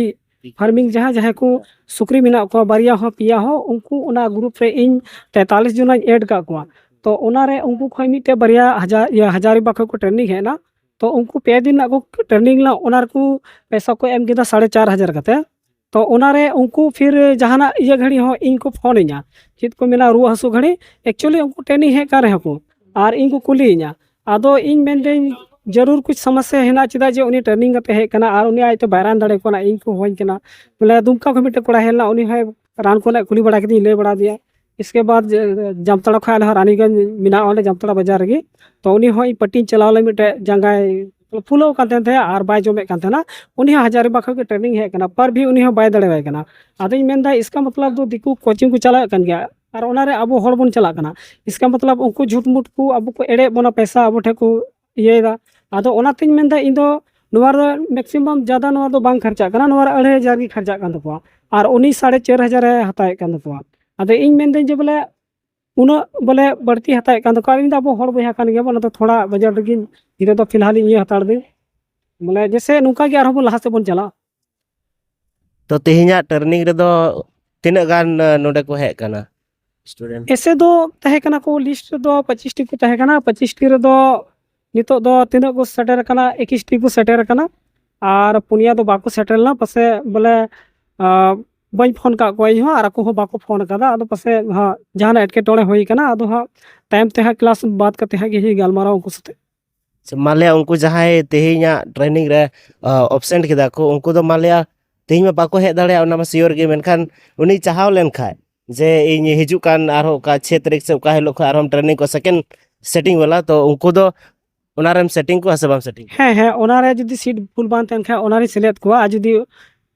ᱯᱷᱟᱨᱢᱤᱝ ᱡᱟᱦᱟᱸ ᱡᱟᱦᱟᱸᱭ ᱠᱚ ᱥᱩᱠᱨᱤ ᱢᱮᱱᱟᱜ ᱠᱚᱣᱟ ᱵᱟᱨᱭᱟ ᱦᱚᱸ ᱯᱮᱭᱟ ᱦᱚᱸ ᱩᱱᱠᱩ ᱚᱱᱟ ᱜᱨᱩᱯ ᱨᱮ ᱤᱧ ᱛᱮᱛᱟᱞᱤᱥ ᱡᱚᱱᱟᱧ ᱮᱰ ᱠᱟᱜ ᱠᱚᱣᱟ ᱛᱚ ᱚᱱᱟᱨᱮ ᱩᱱᱠᱩ ᱠᱷᱚᱱ ᱢᱤᱫᱴᱮᱡ ᱵᱟᱨᱭᱟ ᱦᱟᱡᱟᱨ ᱤᱭᱟᱹ ᱦᱟᱡᱟᱨᱤᱵᱟ ᱠᱷᱚᱱ ᱠᱚ ᱴᱨᱮᱱᱤᱝ ᱦᱮᱡ ᱮᱱᱟ ᱛᱚ ᱩᱱᱠᱩ ᱯᱮ ᱫᱤᱱ ᱨᱮᱱᱟᱜ ᱠᱚ ᱴᱨᱮᱱᱤᱝ ᱞᱮᱱᱟ ᱚᱱᱟ ᱨᱮᱠᱚ ᱯᱚᱭᱥᱟ ᱠᱚ ᱮᱢ ᱠᱮᱫᱟ ᱥᱟᱲᱮ ᱪᱟᱨ ᱦᱟᱡᱟᱨ ᱠᱟᱛᱮ ᱛᱚ ᱚᱱᱟᱨᱮ ᱩᱱᱠᱩ ᱯᱷᱤᱨ ᱡᱟᱦᱟᱱᱟᱜ ᱤᱭᱟᱹ ᱜᱷᱟᱹᱲᱤ ᱦᱚᱸ ᱤᱧ ᱠᱚ ᱯᱷᱳᱱ ᱤᱧᱟ ᱪᱮᱫ ᱠᱚ ᱢᱮᱱᱟ ᱨᱩᱣᱟᱹ ᱦᱟᱹᱥᱩ ᱜᱷᱟᱹᱲᱤ ᱮᱠᱪᱩᱭᱮᱞᱤ ᱩᱱᱠᱩ ᱴᱨᱮᱱᱤᱝ ᱦᱮᱡ ᱠᱟᱱ ᱨᱮᱦᱚᱸ ᱠᱚ ᱟᱨ ᱤᱧ ᱠᱚ ᱠᱩᱞᱤᱭᱤᱧᱟ ᱟᱫᱚ ᱤᱧ ᱢᱮᱱᱫᱟᱹᱧ ᱡᱟᱹᱨᱩᱨ ᱠᱩᱪ ᱥᱚᱢᱚᱥᱥᱟ ᱦᱮᱱᱟᱜ ᱪᱮᱫᱟᱜ ᱡᱮ ᱩᱱᱤ ᱴᱨᱮᱱᱤᱝ ᱠᱟᱛᱮ ᱦᱮᱡ ᱠᱟᱱᱟ ᱟᱨ ᱩᱱᱤ ᱟᱡᱛᱮ ᱵᱟᱭ ᱨᱟᱱ ᱫᱟᱲᱮ ᱠᱟᱱᱟ ᱤᱧ ᱠᱚ ᱦᱚᱦᱚᱧ ᱠᱟᱱᱟ ᱵᱚᱞᱮ ᱫᱩᱢᱠᱟ ᱠᱷᱚᱱ ᱢᱤᱫᱴᱮᱱ ᱠᱚᱲᱟ ᱦᱮᱡ ᱞᱮᱱᱟ ᱩᱱᱤ ᱦᱚᱸ ᱨᱟᱱ ᱠᱚᱨᱮᱱᱟᱜ ᱠᱩᱞᱤ ᱵᱟᱲᱟ ᱠᱮᱫᱤᱧ ᱞᱟᱹᱭ ᱵᱟᱲᱟ ᱫᱮᱭᱟ ᱤᱥᱠᱮ ᱵᱟᱫ ᱡᱟᱢᱛᱟᱲᱟ ᱠᱷᱚᱱ ᱟᱞᱮ ᱦᱚᱸ ᱨᱟᱱᱤᱜᱚᱸᱡᱽ ᱢᱮᱱᱟᱜᱼᱟ ᱚᱸᱰᱮ ᱡᱟᱢᱛᱟᱲᱟ ᱵᱟᱡᱟᱨ ᱨᱮᱜᱮ ᱛᱚ ᱩᱱᱤ ᱦᱚᱸ ᱤᱧ ᱯᱟᱴᱤᱧ ᱪᱟᱞᱟᱣ ᱞᱮᱱ ᱢᱤᱫᱴᱮᱡ ᱡᱟᱸᱜᱟᱭ ᱯᱷᱩᱞᱟᱹᱣ ᱠᱟᱱ ᱛᱟᱦᱮᱱ ᱛᱟᱦᱮᱸᱫ ᱟᱨ ᱵᱟᱭ ᱡᱚᱢᱮᱫ ᱠᱟᱱ ᱛᱟᱦᱮᱱᱟ ᱩᱱᱤ ᱦᱚᱸ ᱦᱟᱡᱟᱨᱤᱵᱟᱜᱽ ᱠᱷᱚᱱ ᱜᱮ ᱴᱨᱮᱱᱤᱝ ᱦᱮᱡ ᱠᱟᱱᱟ ᱯᱟᱨ ᱵᱷᱤ ᱩᱱᱤ ᱦᱚᱸ ᱵᱟᱭ ᱫᱟᱲᱮᱣᱟᱭ ᱠᱟᱱᱟ ᱟᱫᱚᱧ ᱢᱮᱱᱫᱟ ᱤᱥᱠᱟ ᱢᱚᱛᱞᱚᱵ ᱫᱚ ᱫᱤᱠᱩ ᱠᱳᱪᱤᱝ ᱠᱚ ᱪᱟᱞᱟᱜ ᱠᱟᱱ ᱜᱮᱭᱟ ᱟᱨ ᱚᱱᱟᱨᱮ ᱟᱵᱚ ᱦᱚᱲ ᱵᱚᱱ ᱪᱟᱞᱟᱜ ᱠᱟᱱᱟ ᱤᱥᱠᱟ ᱢᱚᱛᱞᱚᱵ ᱩᱱᱠᱩ ᱡᱷᱩᱴᱢᱩᱴ ᱠᱚ ᱟᱵᱚ ᱠᱚ ᱮᱲᱮᱭᱮᱫ ᱵᱚᱱᱟ ᱯᱚᱭᱥᱟ ᱟᱵᱚ ᱴᱷᱮᱱ ᱠᱚ ᱤᱭᱟᱹᱭᱮᱫᱟ ᱟᱫᱚ ᱚᱱᱟᱛᱤᱧ ᱢᱮᱱᱫᱟ ᱤᱧ ᱫᱚ ᱱᱚᱣᱟ ᱨᱮ ᱢᱮᱠᱥᱤᱢᱟᱢ ᱡᱟᱫᱟ ᱱᱚᱣᱟ ᱫᱚ ᱵᱟᱝ ᱠᱷᱚᱨᱪᱟᱜ ᱠᱟᱱᱟ ᱱᱚᱣᱟ ᱨᱮ ᱟᱹᱲᱟᱹᱭ ᱦᱟᱡᱟᱨ ᱜᱮ ᱠᱷᱚᱨᱪᱟᱜ ᱠᱟᱱ ᱛᱟᱠᱚᱣᱟ ᱟᱨ ᱩᱱᱤ ᱥᱟᱲᱮ ᱪᱟᱨ ᱦᱟᱡᱟᱨᱮ ᱦᱟᱛᱟᱣᱮᱫ ᱠᱟᱱ ᱛᱟᱠᱚᱣᱟ ᱟᱫᱚ ᱤᱧ ᱢᱮᱱᱫᱟᱹᱧ ᱡᱮ ᱵᱚᱞᱮ ᱩᱱᱟᱹᱜ ᱵᱚᱞᱮ ᱵᱟᱹᱲᱛᱤ ᱦᱟᱛᱟᱣᱮᱫ ᱠᱟᱱ ᱛᱟᱠᱚᱣᱟ ᱤᱧ ᱫᱚ ᱟᱵᱚ ᱦᱚᱲ ᱵᱚᱭᱦᱟ ᱠᱟᱱ ᱜᱮᱭᱟᱵᱚᱱ ᱟᱫᱚ ᱛᱷᱚᱲᱟ ᱵᱟᱡᱟᱨ ᱨᱮᱜᱮᱧ ᱱᱤᱛᱚᱜ ᱫᱚ ᱯᱷᱤᱞᱦᱟᱞ ᱤᱧ ᱤᱭᱟᱹ ᱦᱟᱛᱟᱲ ᱫᱟᱹᱧ ᱵᱚᱞᱮ ᱡᱮᱥᱮ ᱱᱚᱝᱠᱟ ᱜᱮ ᱟᱨᱦᱚᱸ ᱵᱚᱱ ᱞᱟᱦᱟ ᱥᱮᱫ ᱵᱚᱱ ᱪᱟᱞᱟᱜ ᱛᱚ ᱛᱮᱦᱮᱧᱟᱜ ᱴᱟᱨᱱᱤᱝ ᱨᱮᱫᱚ ᱛᱤᱱᱟᱹᱜ ᱜᱟᱱ ᱱᱚᱰᱮ ᱠᱚ ᱦᱮᱡ ᱠᱟᱱᱟ ᱥᱴᱩᱰᱮᱱᱴ ᱮᱥᱮ ᱫᱚ ᱛᱟᱦᱮᱸ ᱠᱟᱱᱟ ᱠᱚ ᱞᱤᱥᱴ ᱨᱮᱫᱚ ᱯᱚᱸᱪᱤᱥᱴᱤ ᱠᱚ ᱛᱟᱦᱮᱸ ᱠᱟᱱᱟ ᱯᱚᱸᱪᱤᱥᱴᱤ ᱨᱮᱫᱚ ᱱᱤᱛᱚᱜ ᱫᱚ ᱛᱤᱱᱟᱹᱜ ᱠᱚ ᱥᱮᱴᱮᱨ ᱠᱟᱱᱟ ᱮᱠᱤᱥᱴᱤ ᱠᱚ ᱥᱮᱴᱮᱨ ᱠᱟᱱᱟ ᱟᱨ ᱯᱩᱱᱭᱟ ᱫᱚ ᱵᱟᱠᱚ ᱥᱮᱴᱮᱨ ᱞᱮᱱᱟ ᱯᱟᱥᱮ ᱵᱚᱞᱮ ᱵᱟᱹᱧ ᱯᱷᱳᱱ ᱠᱟᱜ ᱠᱚᱣᱟ ᱤᱧᱦᱚᱸ ᱟᱨ ᱟᱠᱚ ᱦᱚᱸ ᱵᱟᱠᱚ ᱯᱷᱳᱱ ᱠᱟᱫᱟ ᱟᱫᱚ ᱯᱟᱥᱮ ᱦᱟᱸᱜ ᱡᱟᱦᱟᱱᱟᱜ ᱮᱴᱠᱮᱴᱚᱬᱮ ᱦᱩᱭ ᱠᱟᱱᱟ ᱟᱫᱚ ᱦᱟᱸᱜ ᱛᱟᱭᱚᱢ ᱛᱮ ᱦᱟᱸᱜ ᱠᱞᱟᱥ ᱵᱟᱫ ᱠᱟᱛᱮ ᱦᱟᱸᱜ ᱜᱮ ᱜᱟᱞᱢᱟᱨᱟᱣ ᱩᱱᱠᱩ ᱥᱟᱛᱮᱜ ᱢᱟᱱᱞᱮᱭᱟ ᱩᱱᱠᱩ ᱡᱟᱦᱟᱸᱭ ᱛᱮᱦᱮᱧᱟᱜ ᱴᱨᱮᱱᱤᱝ ᱨᱮ ᱮᱵᱥᱮᱱᱴ ᱠᱮᱫᱟ ᱠᱚ ᱩᱱᱠᱩ ᱫᱚ ᱢᱟᱱᱞᱮᱭᱟ ᱛᱮᱦᱮᱧ ᱢᱟ ᱵᱟᱠᱚ ᱦᱮᱡ ᱫᱟᱲᱮᱭᱟᱜᱼᱟ ᱚᱱᱟ ᱢᱟ ᱥᱤᱭᱳᱨ ᱜᱮ ᱢᱮᱱᱠᱷᱟᱱ ᱩᱱᱤ ᱪᱟᱦᱟᱣ ᱞᱮᱱᱠᱷᱟᱡ ᱡᱮ ᱤᱧ ᱦᱤᱡᱩᱜ ᱠᱟᱱ ᱟᱨᱦᱚᱸ ᱚᱠᱟ ᱪᱷᱚᱭ ᱛᱟᱹᱨᱤᱠᱷ ᱥᱮ ᱚᱠᱟ ᱦᱤᱞᱳᱜ ᱠᱷᱚᱡ ᱟᱨᱦᱚᱸ ᱴᱨᱮᱱᱤᱝ ᱠᱚ ᱥᱮᱠᱮᱱᱰ ᱥᱮᱴᱤᱝ ᱵᱟᱞᱟ ᱛᱚ ᱩᱱᱠᱩ ᱫᱚ ᱚᱱᱟᱨᱮᱢ ᱥᱮᱴᱤᱝ ᱠᱚᱣᱟ ᱥᱮ ᱵᱟᱢ ᱥᱮᱴᱤᱝ ᱠᱚᱣᱟ ᱦᱮᱸ ᱦᱮᱸ ᱚᱱᱟᱨᱮ ᱡᱩᱫᱤ ᱥᱤᱴ ᱯᱷᱩᱞ ᱵᱟᱝ ᱛᱟᱦᱮᱱ ᱠᱷᱟᱡ ᱚᱱᱟᱨᱮᱧ ᱥᱮᱞᱮᱫ ᱠᱚᱣᱟ ᱟᱨ ᱡᱩᱫᱤ